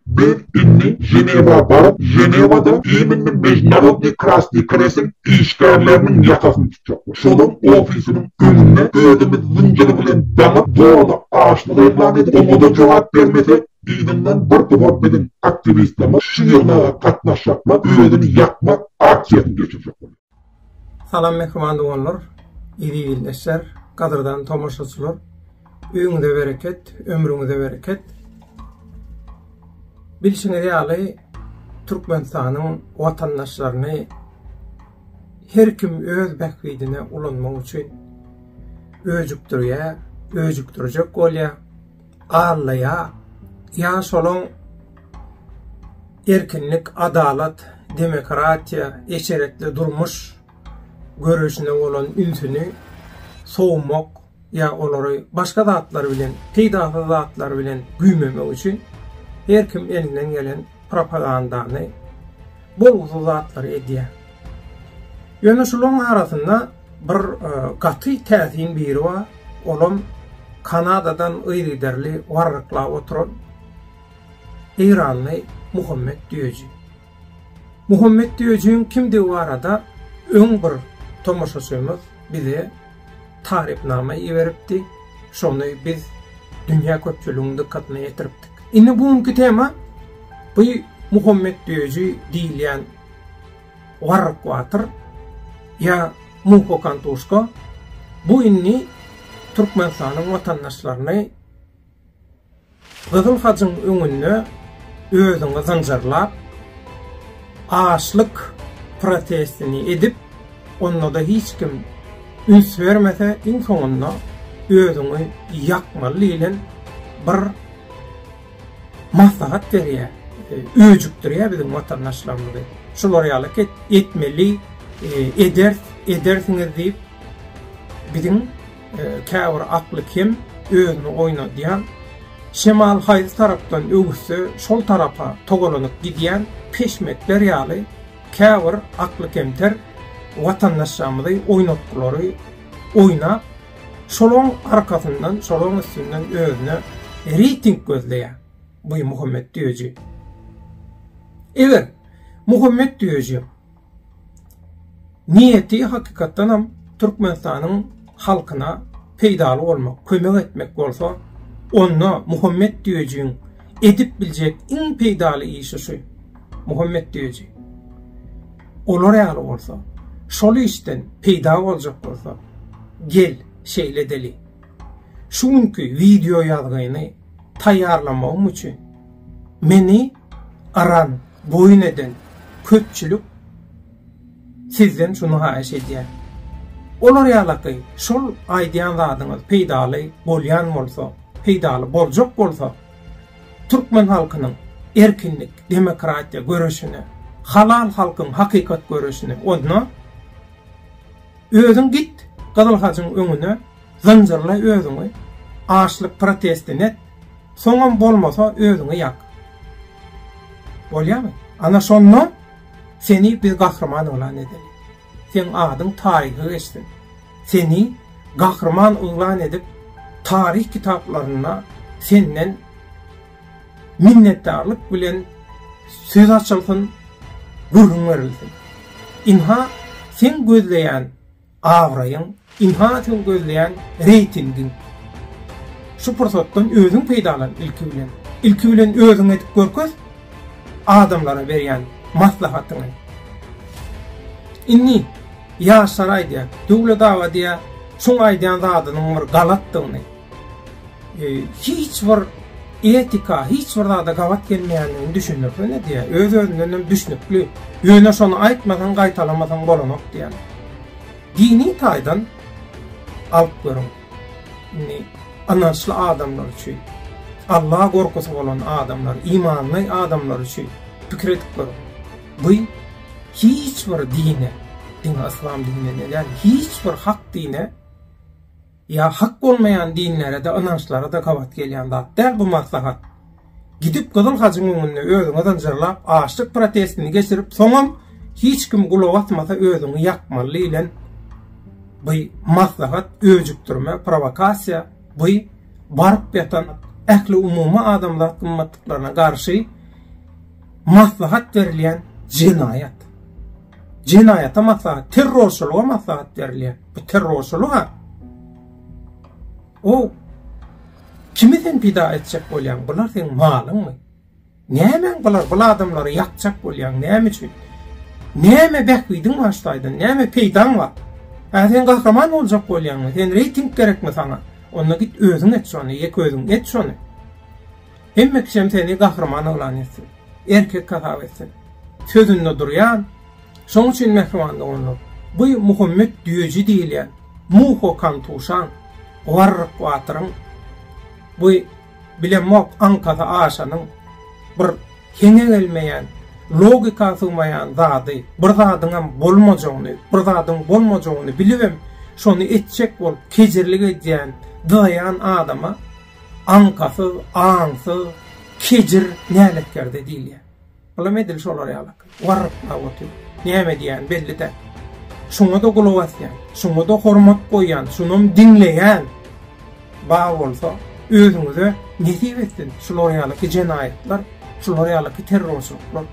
Biz indi Ženewa baryp, Ženewada iýminli Mežnarodnyý Krasnyý Krestiň işgärleriniň ýakasyny tutjak. Şolaryň ofisiniň öňünde özümiz zynjyr bilen daňyp, zoralap açlyk yglan edip, oňa-da jogap bermesek, yzyndan bir topar biziň aktiwistlerimiz şu ýygnaga gatnaşjaklar özüni ýakmak aksiýasyny geçirjek bolýar. Salam mähriban doganlar, eziz ildeşler, gadyrdan tomaşaçylar! Öýüňize bereket, ömrüňize bereket! Bilşiňiz ýaly, Türkmenistanyň watandaşlaryny her kim öz bähbidine ulanmak üçin öjükdirýär, öjükdirjek bolýar. Allaja ýaşulyň erkinlik, adalat, demokratiýa, eşretli durmuş göreşine bolan ünsüni sowmak ýa olary başga zatlar bilen, peýdasyz zatlar bilen güýmemek üçin her kim elinden gelen propagandany, bolgusyz zatlary edýär. Ýöne şularyň arasynda Bir gaty täsin biri bar, olam Kanadadan yzygiderli warryklap oturan eýranly Muhammet Düýeji. Muhammet Düýejiň kimdigi barada öň bir tomaşaçymyz bize tarypnama iberipdi, şony biz dünýä köpçüliginiň dykgatyna ýetiripdik. Indi bu günki tema bu Muhammet Düýeji diýilýän Warrykwater ýa Muhokantuşka bu indi Türkmenistanyň watandaşlaryny Gyzyl Hajyň öňünde özüňi zynjyrlap, açlyk protestini edip, onda-da hiç kim üns bermese, iň soňunda özüňi ýakmaly diýlen bir maslahat berýär, öjükdirýär biziň watandaşlarymyzy. Şular ýaly et, etmeli, ederis, edersiňiz diýip, biziň käbir akly kem, özüni oýnadýan, şemal haýsy tarapdan öwüsse, şol tarapa togalanyp gidýän peşmekler ýaly käbir akly kemter watandaşlarymyzy oýnatgylary oýnap, Şolaň arkasyndan, şolaň üstünden özüne reýting gözleýär bu Muhammet Düýeji. Eger Muhammet Düýeji niýeti hakykatdan hem Türkmenistanyň halkyna peýdaly bolmak, kömek etmek bolsa, onda Muhammet Düýejiň edip biljek iň peýdaly işi şu. Muhammet Düýeji. Olar ýaly bolsa, şol işden peýda boljak bolsa, gel, şeýle edeli. Şu günki wideo ýazgyny taýýarlamagym üçin meni aran boýun eden köpçülik sizden şuny haýyş edýär. Olar ýalaky şol aýdýan zadyňyz peýdaly bolýan bolsa, peýdaly boljak bolsa, Türkmen halkynyň erkinlik, demokratiýa göreşine, halal halkyň hakykat göreşine odna. Özüň git Gyzyl Hajyň öňüne, zynjyrla özüňi, açlyk protestini et, soňam bolmasa özüňi ýak. Bolýamy? Ana şonda seni biz gahryman yglan edeli. Seň adyň taryha geçsin. Seni gahryman yglan edip, taryh kitaplarynda senden minnetdarlyk bilen söz açylsyn, gürrüň berilsin. Ynha, seň gözleýän abraýyň, Ilhana sen gözleýän reýtingiň. Şu pursatdan özüň peýdalan ilki bilen. Ilki bilen özüň edip görkez adamlara berýän maslahatyňy. Indi ýaşlar aýdýar, Döwlet aga diýýär, şuň aýdýan zadynyň bir galatdygyny, e, hiç bir etika, hiç bir zada gabat gelmeýändigini düşündirsene diýýär. Öz-özünden hem düşnükli. Ýöne şony aýtmasaň, gaýtalamasaň bolanok diýýär. Dini taýdan alplaryň, indi ynançly adamlar üçin, Alla gorkusy bolan adamlar, imanly adamlar üçin pikir edip görüň. Bu hiç bir dine, diňe yslam dininden däl, hiç bir hak dine, Ýa hak bolmaýan dinlere-de, ynançlara-da gabat gelýän zat däl bu maslahat. Gidip Gyzyl Hajyň öňünde özüňi zynjyrlap, açlyk protestini geçirip, soňam hiç kim gulak asmasa özüňi ýakmaly diýlen by maslahat öjükdirme, prowokasiýa, by baryp ýatan ähli umumy adamzat gymmatlyklaryna garşy maslahat berilýän jenaýat. Jenaýata maslahat, terrorçylyga maslahat berilýär. Bu terrorçylyga o kimi sen pida etjek bolýaň? Bular seň malyňmy? Nämäň bular? Bu adamlary ýakjak bolýaň. Näme üçin? Näme bähbidiň bar şaýdan? Näme peýdaň bar? Ha sen gahraman boljak bolýaňmy? Sen reýting gerekmi sana? Onda git özüň et şony, ýek özüň et şony. Hemme kişem seni gahryman yglan etsin. Erkek hasap etsin. Sözünde durýan, şoň üçin mähriban doganlar, bu Muhammet Düýeji diýilýän Muho Kantuşaň, Warryk batyryň, bu bilemok aňkasy aşanyň bir heňe gelmeýän, logika sygmaýan zady, bir zadyňam bolmajagyny, bir zadyň bolmajagyny bilibem, şony etjek bolup kejirlik edýän, dyzaýan adama, Aňkasyz, aňsyz, kejir, näletkerde diýilýär. Bulam edil şolar ýaly. Warryklap otyr. Näme diýýäni belli däl. Şuňa-da gulak asýan, şuňa-da hormat goýýan, şunam diňleýän. Bar bolsa, özüňize nesip etsin şular ýalyky jenaýatlar, şular ýalyky terrorçylyklar.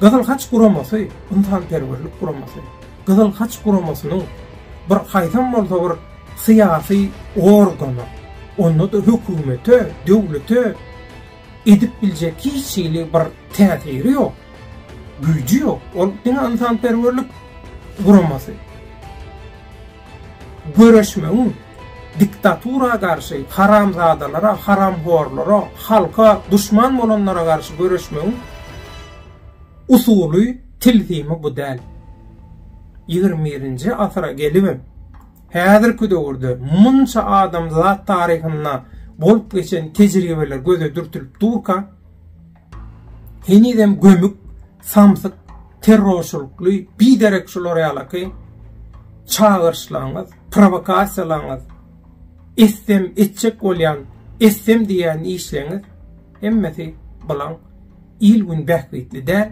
Gyzyl Haç guramasy ynsanperwerlik guramasy. Gyzyl Haç guramasynyň bir haýsam bolsa bir syýasy organa, onda-da hökümete, döwlete edip biljek hiç hili bir täsiri ýok, güýji ýok. Ol diňe ynsanperwerlik guramasy. Göreşmegiň diktatura garşy, haramzadalara, haramhorlara, halka duşman bolanlara garşy göreşmegiň usuly, tilsimi bu däl. Ýigrimi birinji asyra gelibem, Häzirki döwürde munça adamzat taryhynda bolup geçen tejribeler göze dürtülip durka, henizem gömük, samsyk, terrorçylykly, biderek şular ýalaky çagyryşlaryňyz, prowokasiýalaryňyz, etsem etjek bolýan, etsem diýýän işleriňiz hemmesi bilan il-gün bähbitli däl,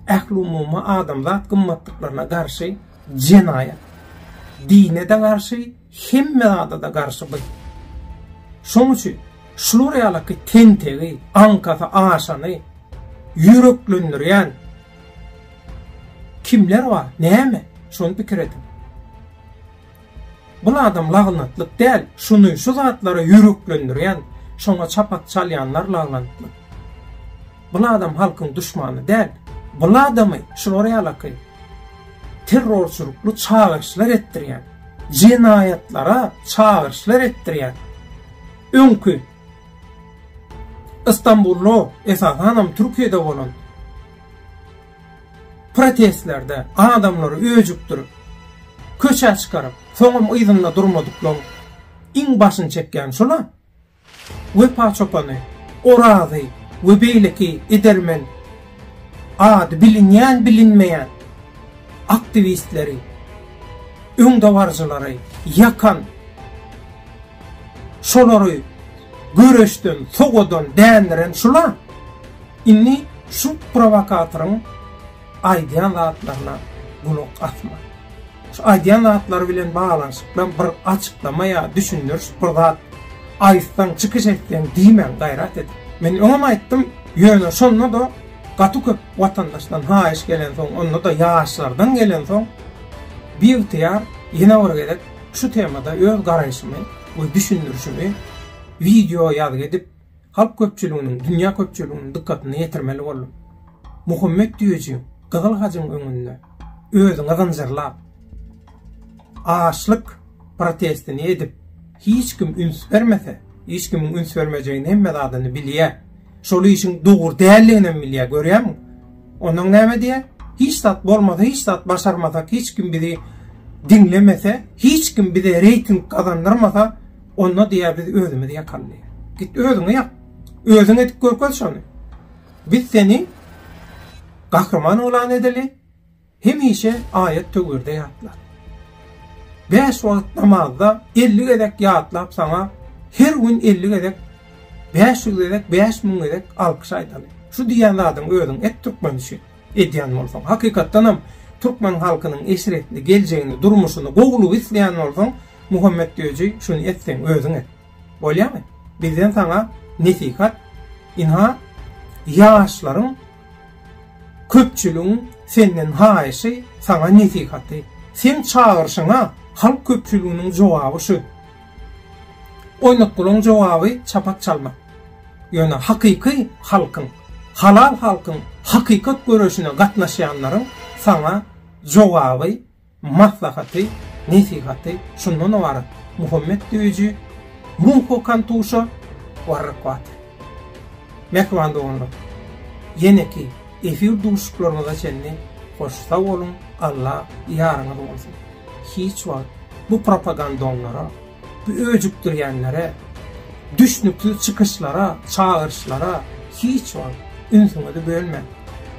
ählumumy adamzat gymmatlyklaryna garşy. Jenaýat. Dine-de garşy, hemme zada-da garşy bu. Şoň üçin, şular ýalyky tentegi, aňkasy aşany ýüreklendirýän kimler bar, näme? Şony pikir ediň. Bul adam lagnatlyk däl şuny şu zatlara ýüreklendirýän şoňa çapak çalýanlar lagnatly. Bul adam halkyň duşmany däl. Bul adamy şular ýalaky terrorçylykly çagyryşlar etdirýän, jenaýatlara çagyryşlar etdirýän öňki Istanbullu esasanam Türkiýede bolan Protestlerde adamlary öjükdirip, köçä çykaryp, soňam yzynda durmadyklaryň iň başyny çekýäni şul-a. Wepa çopany Orazy we beýleki edermen ady bilinýän-bilinmeýän aktiwistleri, öňdebaryjylary ýakan, şolary göreşden sowadan, dändiren şul-a. Indi şu prowokatoryň aýdýan zatlaryna gulak asma. Şu aýdýan zatlary bilen baglanyşykda bir açyklama ýa düşündiriş bir zat aýtsaň, çykyş etseň diýmäň gaýrat edip. Men öňem aýtdym, ýöne şonda-da gaty köp watandaşdan haýyş gelensoň, onda-da ýaşlardan gelensoň, biygtyýar ýene bir gezek şu temada öz garaýşymy we düşündirişimi wideo ýazgy edip halk köpçüliginiň, dünýä köpçüliginiň dykgatyna ýetirmeli boldum. Muhammet düýeji Gyzyl hajyň öňünde özüňi zynjyrlap, açlyk protestini edip, hiç kim üns bermese, hiç kimiň üns bermejegini hemme zadyny bilýär. Şol işiň dogry däldigini hem bilýär, görýärmiň? Ondan näme diýýär? Hiç zat bolmasa, hiç zat başarmasak, hiç kim bizi diňlemese, hiç kim bize reýting gazandyrmasa, Onda diýýär, biz özümiz ýakaly diýýär. Git özüňi ýak. Özüň edip görkez şony. Biz seni gahryman oglan edeli, hemişe aýat töwirde ýatla. Bäş wagt namazda elli gezek ýatlap saňa, her gün elli gezek, bäş ýüz gezek, bäş müň gezek alkyş aýdaly. Şu diýýän zadyňy özüň et türkmen üçin. edýän bolsaň, hakykatdanam türkmen halkynyň eşretli geljegini, durmuşyny, gowulygy isleýän bolsaň, Muhammet Döji şuny et seň özüň et. Bolýamy? Bizden saňa nesihat, ynha ýaşlaryň köpçüligiň senden haýyşy, saňa nesihaty. Seň çagyryşyňa halk köpçüliginiň jogaby şu. Oýnatgylaň jogaby çapak çalmak. Ýöne hakyky halkyň, halal halkyň hakykat göreşine gatnaşýanlaryň saňa jogaby, maslahaty, nesihaty şundan ybarat, Muhammet Düýji, Munho Kantuşa, Warrak Water. Mähriban doganlar, ýeneki efir duşuklaryňyza çenli hoş sag boluň, Alla ýaryňyz bolsun! Hiç wagt bu propagandonlara, bu öjükdirýänlere, düşnüksiz çykyşlara, çagyryşlara hiç wagt ünsüňizi bölmäň.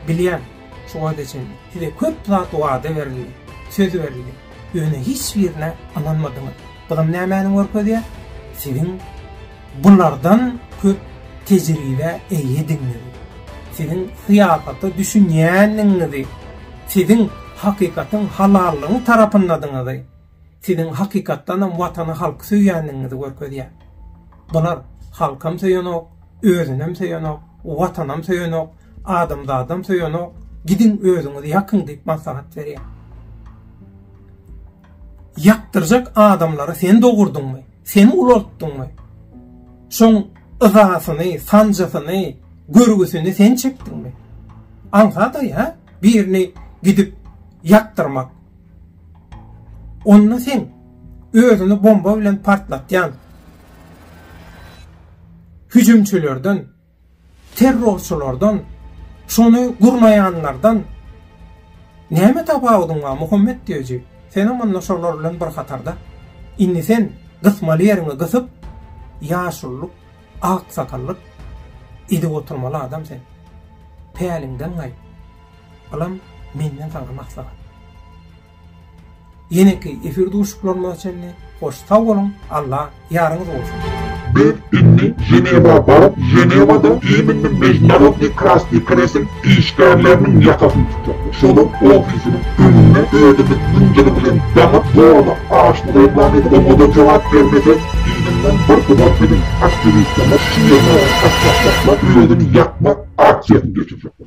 Bilýän, şu wagta çenli size köp zat wada berildi, söz berildi, ýöne hiç birine ynanmadyňyz. Buzam nämäni görkezýär? Siziň Bulardan köp tejribä eýediňiz. Siziň syýasata düşünýändigiňizi, siziň hakykatyň halallygyň tarapyndadygyňyzy, siziň hakykatdanam Watany, halky söýýändigiňizi görkezýär. Bular halkam söýenok, özünem söýenok, Watanam söýenok, adamzadam söýenok, gidiň özüňiz ýakyň diýip maslahat berýär. Ýakdyrjak adamlary sen dogurdyňmy, sen ulaltdyňmy? Şoň yzasyny, sanjysyny, görgüsini sen çekdiňmi? Aňsat-aý, hä, birini gidip ýakdyrmak. Onda sen özüni bomba bilen partlatýan hüjümçilerden, Terrorçylardan, şony gurnaýanlardan näme tapawudyň bar, Muhammet Döji? Senem onda şolar bilen bir hatarda. Indi sen gysmaly ýeriňi gysyp, ýaşulylyk, aksakallyk edip oturmaly adam sen. Päliňden gaýt. Bulam menden saňa maslahat. Ýeneki efir duşuklarymyza çenli hoş sag boluň Alla ýaryňyz bolsun. Biz indi Ženewa baryp Ženewada iminli Mežnarodnyý Krasnyý Kresl işgärleriniň ýakasyny tutjak. Şolaň ofisiniň öňünde özümiz zynjyr bilen daňyp zorlap açlyk eglan edip oňada jogap bermesek yzyndan bir gybat biziň aktiwistlerimiz şu ýerlere gaçjakçaklar özüni ýakmak aksiýasyny geçirjekler.